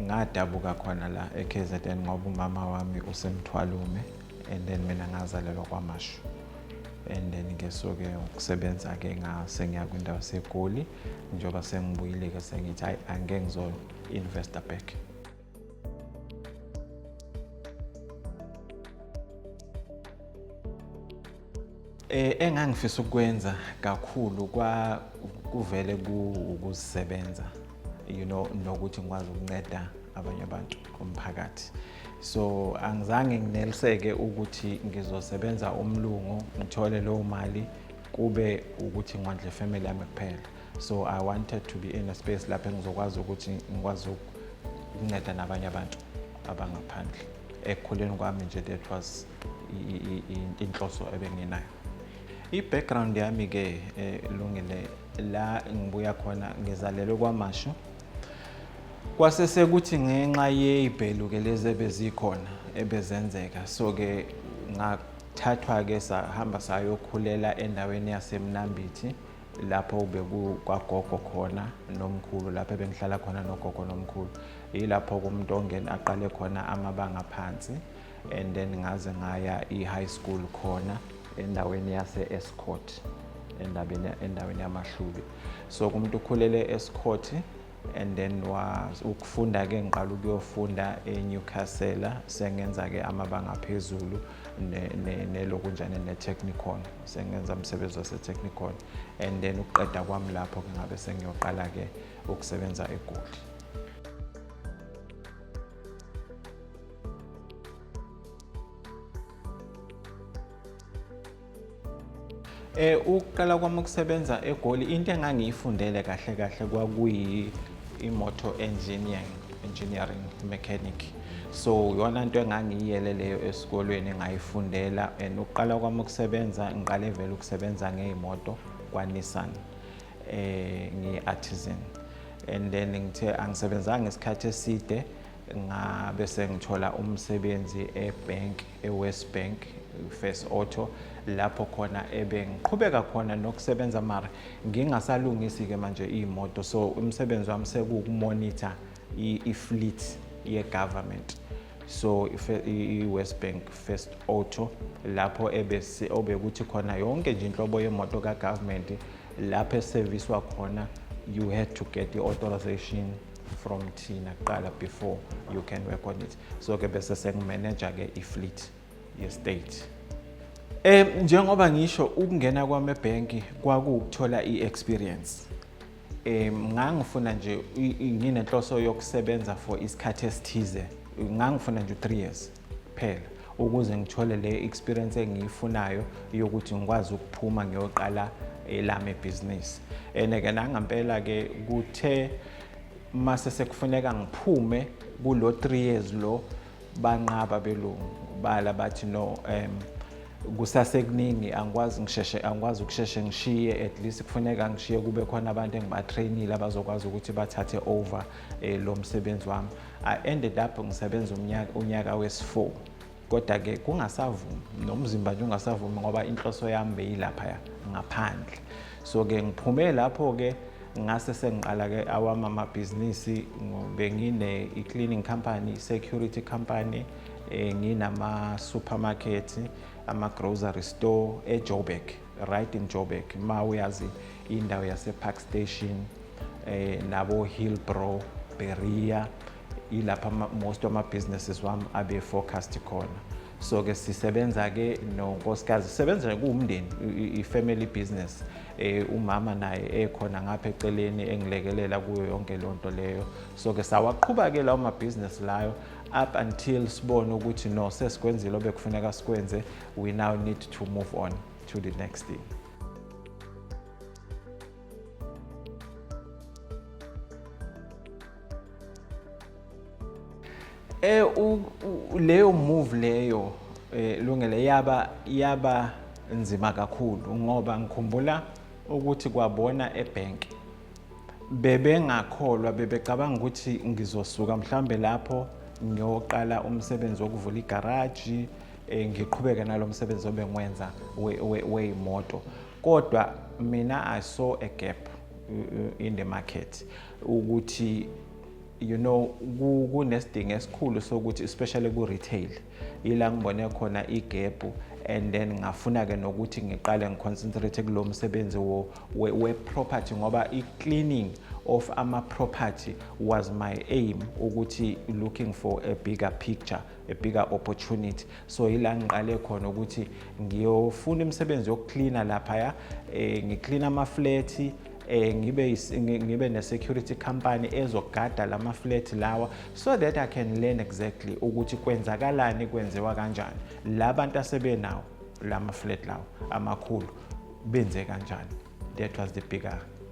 Ngadabuka khona la eKZN ngoba umama wami usemthwalume and then mina ngazalelwa kwamashu and then ke soke ukusebenza ke ngasengiya kwindawo segoli njengoba sengibuyile ke sengithi hayi angeke ngizo-investa back Eh, engangifisa ukwenza kakhulu kwa kuvele kuwukuzisebenza you know nokuthi ngikwazi ukunceda abanye abantu umphakathi so angizange ngineliseke ukuthi ngizosebenza umlungu ngithole leyo mali kube ukuthi ngondle family yami kuphela so i wanted to be in a space lapho engizokwazi ukuthi ngikwazi ukunceda nabanye abantu abangaphandle ekukhuleni kwami nje that was inhloso ebenginayo i-background yami-ke eh, lungile la ngibuya khona ngizalelwe kwamasho kwase sekuthi ngenxa yey'bhelu-ke lezi ebezikhona ebezenzeka so-ke ngathathwa-ke sahamba sayokhulela endaweni yasemnambithi lapho bekukwagogo khona nomkhulu lapho ebengihlala khona nogogo nomkhulu yilapho-ke umntu ongena aqale khona amabanga phansi and then ngaze ngaya i-high school khona endaweni yase-escort endabeni endaweni yamahlubi so kumuntu ukhulele e-escort and then was ukufunda ke ngiqala ukuyofunda eNewcastle sengenza ke amabanga phezulu nelokunjane ne, ne technicon sengenza umsebenzi wase technicon and then ukuqeda kwami lapho ke ngabe sengiyoqala ke ukusebenza eGoli Eh ukuqala kwami ukusebenza eGoli into engangiyifundele kahle kahle kwakuyi imotor engineering engineering mechanic so yona into engangiyiyele leyo esikolweni ngayifundela and ukuqala kwami ukusebenza ngiqale vele ukusebenza ngeyimoto kwaNissan eh ngiyi-artisan and then ngithe angisebenzanga isikhathi eside ngabe sengithola umsebenzi ebank ewest bank first auto lapho khona ebengiqhubeka khona nokusebenza mara ngingasalungisi-ke manje iy'moto so umsebenzi wami sekuwukumonitor i-fleet ye-government so i-west bank first auto lapho obekuthi khona yonke nje inhlobo yemoto kagovernment lapho eseviswa khona you had to get i-authorization from thina kuqala before you can work on it so ke bese sengimeneja ke i-fleet ye-state Eh njengoba ngisho ukungena kwami ebhenki kwakuwukuthola i-experience. Eh ngangifuna nje nginenhloso yokusebenza for isikhathi esithize. Ngangifuna nje 3 years. kuphela ukuze ngithole le experience engiyifunayo yokuthi ngikwazi ukuphuma ngiyoqala elami ibhizinisi and ke nangampela ke kuthe mase sekufuneka ngiphume kulo 3 years lo banqaba belungu bala bathi no um kusasekuningi angikwazi ngisheshe angikwazi ukusheshe ngishiye at least kufuneka ngishiye kube khona abantu engibatrainile abazokwazi ukuthi bathathe over eh, lo msebenzi wami I ended up ngisebenza unyaka unyaka wesi4 kodwa ke kungasavumi nomzimba nje ungasavumi ngoba inhloso yami beyilapha ngaphandle so ke ngiphume lapho ke ngase sengiqala ke awami amabhizinisi bengine i-cleaning company security company eh, nginama supermarket ama grocery store eJoburg right in Joburg ma uyazi indawo yase Park Station eh nabo Hillbrow Beria ilapha most of my businesses wami abe forecast khona so ke sisebenza ke nonkosikazi sisebenza kuwumndeni i-family business eh umama naye ekhona ngapha eceleni engilekelela kuyo yonke lonto leyo so ke sawaqhuba ke lawo ma business layo up until sibone ukuthi no sesikwenzile obekufuneka sikwenze we now need to move on to the next thing eh leyo move leyo eh lungele yaba yaba nzima kakhulu ngoba ngikhumbula ukuthi kwabona ebank bebengakholwa bebecabanga ukuthi ngizosuka mhlambe lapho ngiyoqala umsebenzi wokuvula igaraji eh, ngiqhubeke nalomsebenzi obengwenza weyimoto kodwa mina i saw a gap in the market ukuthi you know kunesidingo esikhulu sokuthi especially ku retail ila ngibone khona igap and then ngafuna ke nokuthi ngiqale ngiconcentrate kulo msebenzi wo we, we property ngoba i cleaning of ama property was my aim ukuthi looking for a bigger picture a bigger opportunity so yila ngiqale khona ukuthi ngiyofuna imisebenzi yokucleaner laphaya eh, ngiclean amaflethi eh ngibe ngibe ne security company ezogada lama flat lawa so that I can learn exactly ukuthi kwenzakalani kwenziwa kanjani labantu asebenawo lama flat lawa amakhulu benze kanjani that was the bigger